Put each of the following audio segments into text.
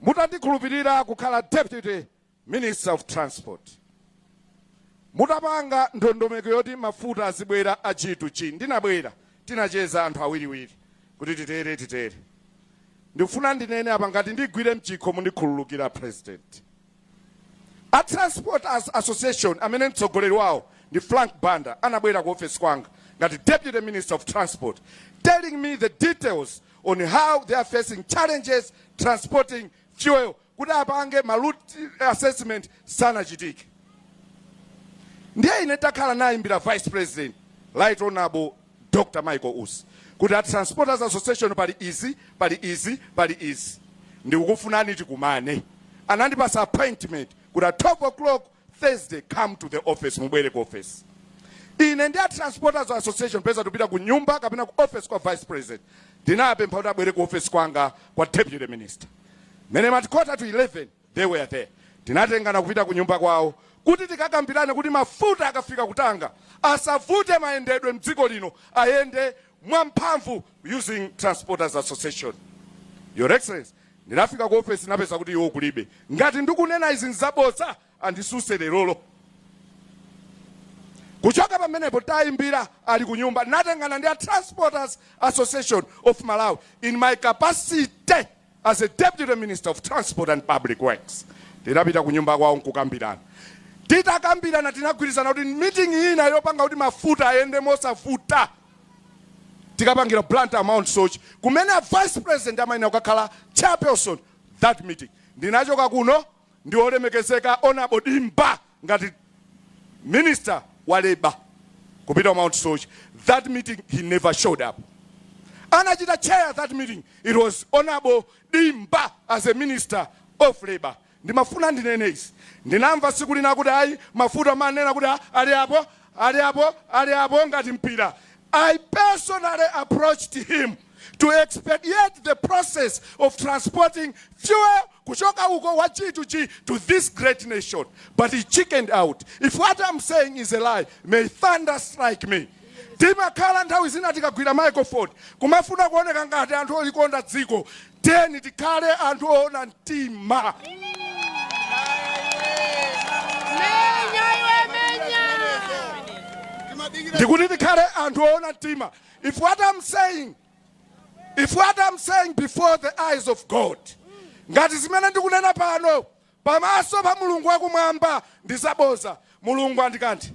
Mutandikhulupirira kukhala Deputy Minister of Transport, mutapanga ndondomeko yoti mafuta azibwera a G to G, ndinabwera, tinacheza anthu awiriwiri kuti titere titere. Ndikufuna ndinene apa ngati ndigwire mchikho mundikhululukira President. A Transport Association amene mtsogoleri wawo ndi Frank Banda anabwera ku ofesi kwanga ngati Deputy Minister of Transport telling me the details on how they are facing challenges transporting fuel kuti apange ma route assessment sanachitike. Ndiye ine takhala nayimbira Vice President Right Honorable Dr Michael Usi kuti a Transporters Association pali izi, pali izi, pali izi ndikukufunani tikumane. Anandipasa appointment kuti at 12 o'clock Thursday come to the office, mubwere ku office. Ine ndi a Transporters Association m'malo mopita ku nyumba kapena ku office kwa Vice President. Ndinapempha kuti abwere ku office kwanga kwa Deputy Minister. Mmene imati quarter to 11 They were there. Tinatengana kupita kunyumba kwawo kuti tikakambirane kuti mafuta akafika ku Tanga asavute mayendedwe mdziko lino ayende mwa mphamvu using Transporters Association. Your Excellency, ndinafika ku ofesi napeza kuti iwo kulibe. Ngati ndikunena izi nzabodza anditsutse lerolo. Kuchoka pamenepo tayimbira ali ku nyumba ndinatengana ndi a Transporters Association of Malawi in my capacity As a Deputy Minister of Transport and Public Works, tinapita kunyumba kwawo n'kukambirana. Titakambirana tinagwirizana kuti meeting ina yopanga kuti mafuta ayende mosavuta tikapangire Blantyre Mount Soche kumene a Vice President amayenera kukakhala chairperson that meeting. Ndinachoka kuno ndi olemekezeka Hon Dimba ngati Minister wa Labour kupita ku Mount Soche that meeting he never showed up. Anachita chair that meeting it was Hon Dimba as a Minister of Labour. Ndimafuna ndinene izi ndinamva siku lina kuti ayi mafuta manena kuti ali apo Ali apo, ali apo ngati mpira. I personally approached him to expedite the process of transporting fuel kuchoka uko wa G to G to this great nation. But he chickened out. If what I'm saying is a lie, may thunder strike me. timakhala nthawi zina tikagwira microphone kumafuna kuoneka ngati anthu olikonda dziko Tiyeni tikhale anthu oona mtima. Ndikuti tikhale anthu oona mtima if what I'm saying before the eyes of God ngati zimene ndikunena pano pamaso pa mulungu wakumwamba ndizaboza mulungu andikanthe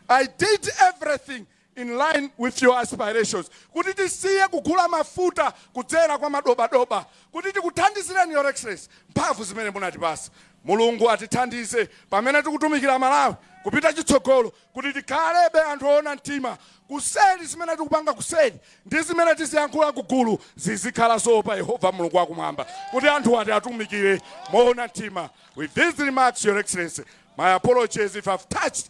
I did everything in line with your aspirations, kuti tisiye kugula mafuta kudzera kwa madobadoba kuti tikuthandizireni your excellency mphamvu zimene munatipasa. Mulungu atithandize pamene tikutumikira Malawi kupita chitsogolo kuti tikhalebe anthu oona mtima kuseli zimene tikupanga kuseli ndi zimene tiziyankhula kugulu zizikhala zoopa Yehova Mulungu wakumwamba kuti anthuwa tiwatumikire moona mtima. With these remarks, your excellency, my apologies if I've touched